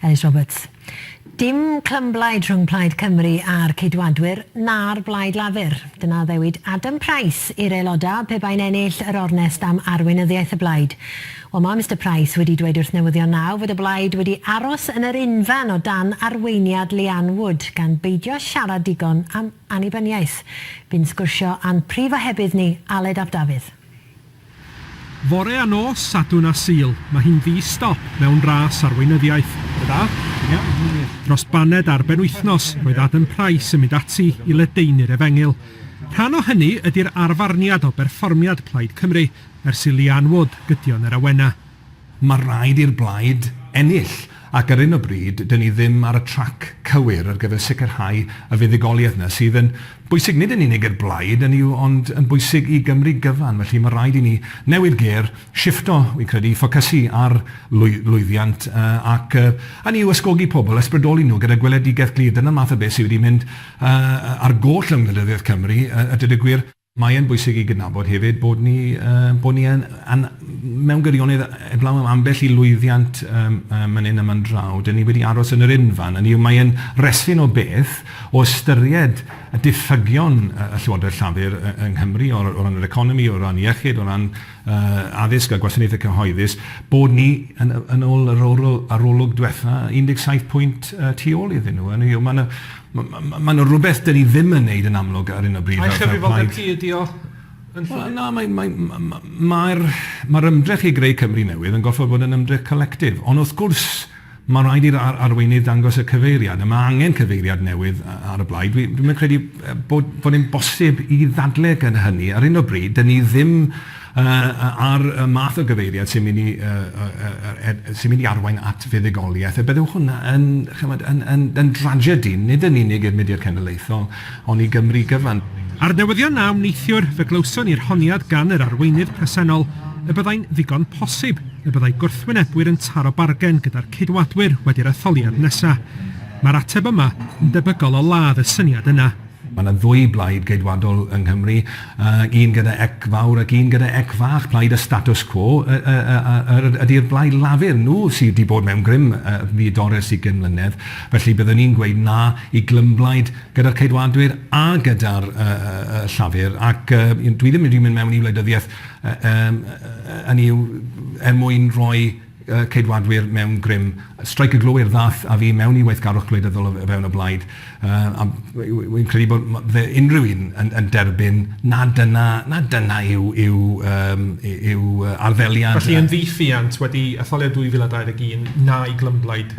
Elis Roberts, Dim clymblaid rhwng Plaid Cymru a'r Ceidwadwyr na'r Blaid Lafur. Dyna ddewid Adam Price i'r aelodau pe bai'n ennill yr ornest am arweinyddiaeth y blaid. Wel, mae Mister Price wedi dweud wrth Newyddion Now fod y blaid wedi aros yn yr unfan o dan arweiniad Leanne Wood gan beidio siarad digon am annibyniaeth. Bu'n sgwrsio â'n prif ohebydd ni, Aled ap Dafydd. Fore a nos Sadwrn a Sul, mae hi'n ddi-stop mewn ras arweinyddiaeth. Da da. Ia, yn wir. Dros baned ar benwythnos, roedd Adam Price yn mynd ati i ledaenu'r efengyl. Rhan o hynny ydi'r arfarniad o berfformiad Plaid Cymru ers i Leanne Wood gydio yn yr awenau. Mae rhaid i'r blaid ennill, ac ar hyn o bryd, dŷn ni ddim ar y trac cywir ar gyfer sicrhau y fuddugoliaeth yna, sydd yn bwysig nid yn unig i'r blaid, hynny yw, ond yn bwysig i Gymru gyfan. Felly, mae rhaid i ni newid gêr, shiffto, fi'n credu, ffocysu ar lwyddiant, ac hynny yw, ysgogi pobl, ysbrydoli nhw gyda gweledigaeth glir. Dyna'r math o beth sydd wedi mynd ar goll yng ngwleidyddiaeth Cymru, a dweud y gwir. Mae e'n bwysig i gydnabod hefyd bod ni yy bod ni yn yn mewn gwirionedd heblaw am ambell i lwyddiant yym yy man 'yn a man draw, 'dyn ni wedi aros yn yr unfan, hynny yw mae e'n resyn o beth o ystyried y diffygion yy y Llywodraeth Llafur yy yng Nghymru o o ran yr economi, o ran iechyd, o ran yy addysg a gwasanaethau cyhoeddus, bod ni yn y yn ôl yr orol- arolwg dwetha 17 pwynt yy tu ôl iddyn nhw, hynny yw ma' 'na Maen nhw'n rhywbeth dyn ni ddim yn wneud yn amlwg ar hyn o bryd. Eich cyfrifoldeb chi ydy o? Wel na, mae'r ymdrech i greu Cymru newydd yn gorfod bod yn ymdrech collectif. Ond wrth gwrs, mae'n rhaid i'r arweinydd ddangos y cyfeiriad, a mae angen cyfeiriad newydd ar y blaid. Dwi ddim yn credu bod e'n bosib i ddadlau gyda hynny. Ar hyn o bryd, dyn ni ddim... a'r math o gyfeiriad sy'n mynd i sy'n mynd i arwain at fuddugoliaeth, a bydde hwnna yn, chimod, yn yn yn dragedi, nid yn unig i'r mudiad cenedlaethol, ond i Gymru gyfan. A'r newyddion 'na am neithiwr, fe glywson ni'r honiad gan yr arweinydd presennol y byddai'n ddigon posib y byddai gwrthwynebwyr yn taro bargen gyda'r Ceidwadwyr wedi'r etholiad nesa'. Mae'r ateb yma yn debygol o ladd y syniad yna. Mae yna ddwy blaid Geidwadol yng Nghymru, un gyda ec fawr ac un gyda ec fach. Plaid y status quo ydy'r Blaid Lafur. Nhw sydd wedi bod mewn grym fu Doris ugain mlynedd. Felly byddwn i'n gweud na i glymblaid gyda'r Ceidwadwyr a gyda'r Llafur. Ac dwi ddim wedi mynd mewn i wleidyddiaeth, hynny yw, er mwyn rhoi... Ceidwadwyr mewn grym. Streic y Glowyr ddaeth â fi mewn i weithgarwch gwleidyddol o fewn y blaid, a wi'n credu bod unrhyw un yn derbyn nad dyna nad dyna yw arddeliad... Felly yn ddiwylliant wedi etholiad 2021, na i glymblaid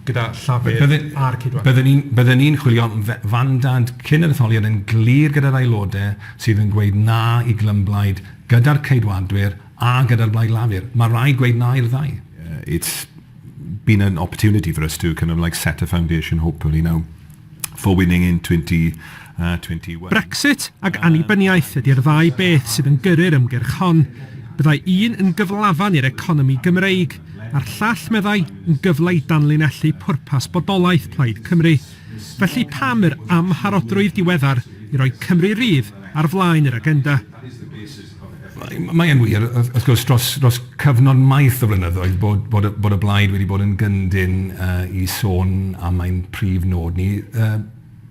gyda Llafur a'r Ceidwadwyr? Bydden i'n chwilio am fandad cyn yr etholiad yn glir gyda'r Aelodau sydd yn gweud na i glymblaid gyda'r Ceidwadwyr, A gyda'r Blaid Lafur. Mae rhaid gweud na i'r ddau. It's been an opportunity for us to kind of like set a foundation, hopefully now, for winning in 2021. Uh, Brexit ac annibyniaeth ydy'r ddau beth sydd yn gyrru'r ymgyrch hon. Byddai un yn gyflafan i'r economi Gymreig, a'r llall, meddai, yn gyfle i danlinellu pwrpas bodolaeth Plaid Cymru. Felly pam yr amharodrwydd diweddar i roi Cymru Rydd ar flaen yr agenda? Mae e'n wir, wrth gwrs, dros cyfnod maith o flynyddoedd bod y blaid wedi bod yn gyndyn i sôn am ein prif nod ni.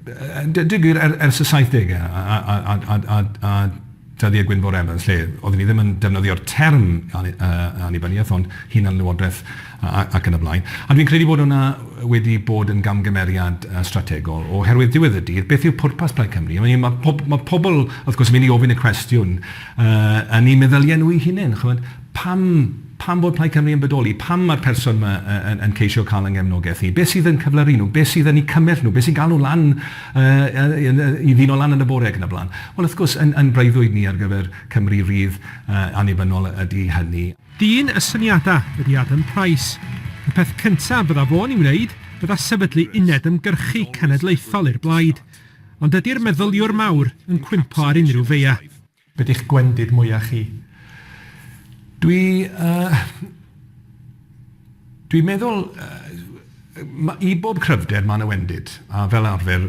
Yn deud y gwir, ers y saithdegau a dyddiau Gwynfor Evans, lle oeddwn i ddim yn defnyddio'r term annibyniaeth ond hunanlywodraeth, ac yn y blaen. A dwi'n credu bod hwnna wedi bod yn gamgymeriad strategol, oherwydd diwedd y dydd, beth yw pwrpas Plaid Cymru? I mean, mae pob- mae pobl, wrth gwrs, yn mynd i ofyn y cwestiwn yn eu meddyliau nhw eu hunain, chimod, pam, pam bod Plaid Cymru yn bodoli? Pam mae'r person yma yn, yn ceisio cael yng nghefnogaeth ni? Beth sydd yn cyflyru nhw? Beth sydd yn eu cymell nhw? Beth sy'n galw lan, uh, i ddyn o lan yn y bore ac yn y blaen? Wel, wrth gwrs, yn, yn breuddwyd ni ar gyfer Cymru rydd uh, annibynnol ydy hynny. Dyn y syniadau ydy Adam Price. Y peth cyntaf fydda fo'n ei wneud fydda sefydlu uned ymgyrchu cenedlaethol i'r blaid. Ond dydy'r meddyliwr mawr yn cwympo ar unrhyw feia. Be di'ch gwendid mwya chi? Dwi yy dwi'n meddwl yy I bob cryfder mae 'na wendid, a fel arfer,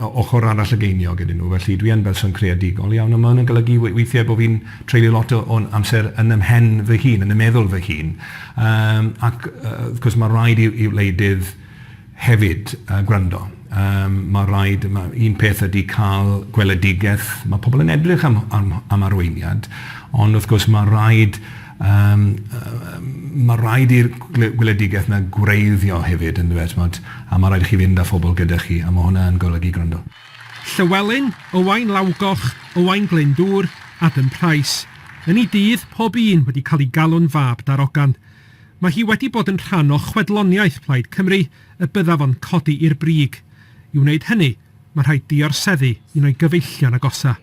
ochr arall y geiniog ydyn nhw. Felly, dwi yn berson creadigol iawn, a ma' hwnna'n golygu weithiau bo' fi'n treulio lot o'n amser yn 'y mhen fy hun, yn 'y meddwl fy hun. Ac, wrth gwrs, ma' raid i wleidydd hefyd gwrando. Ma' raid... Un peth ydy cael gweledigaeth, ma' pobl yn edrych am arweiniad, ond wrth gwrs ma' raid Yym mae'n rhaid i'r gweledigaeth yna gwreiddio hefyd yn dyw e, timod, a mae'n rhaid i chi fynd â phobl gyda chi, a mae hwnna yn golygu gwrando. Llywelyn, Owain Lawgoch, Owain Glyndŵr, Adam Price. Yn ei dydd, pob un wedi cael ei galw'n fab darogan. Mae hi wedi bod yn rhan o chwedloniaeth Plaid Cymru y byddaf o'n codi i'r brig. I wneud hynny, mae'n rhaid diorseddu un o'i gyfeillion agosaf.